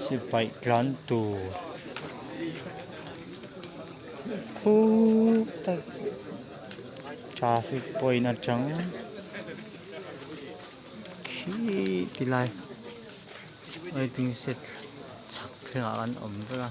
Sipaih tlan tur fut a traffic point atang khih ti lai waiting shed chak thla an awm vek a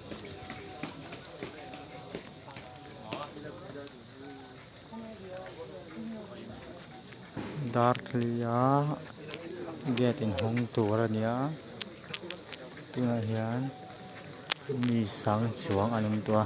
Darthlaia gate in hawng tur a ni a tunah hian mi sang chuang an awm tawh a.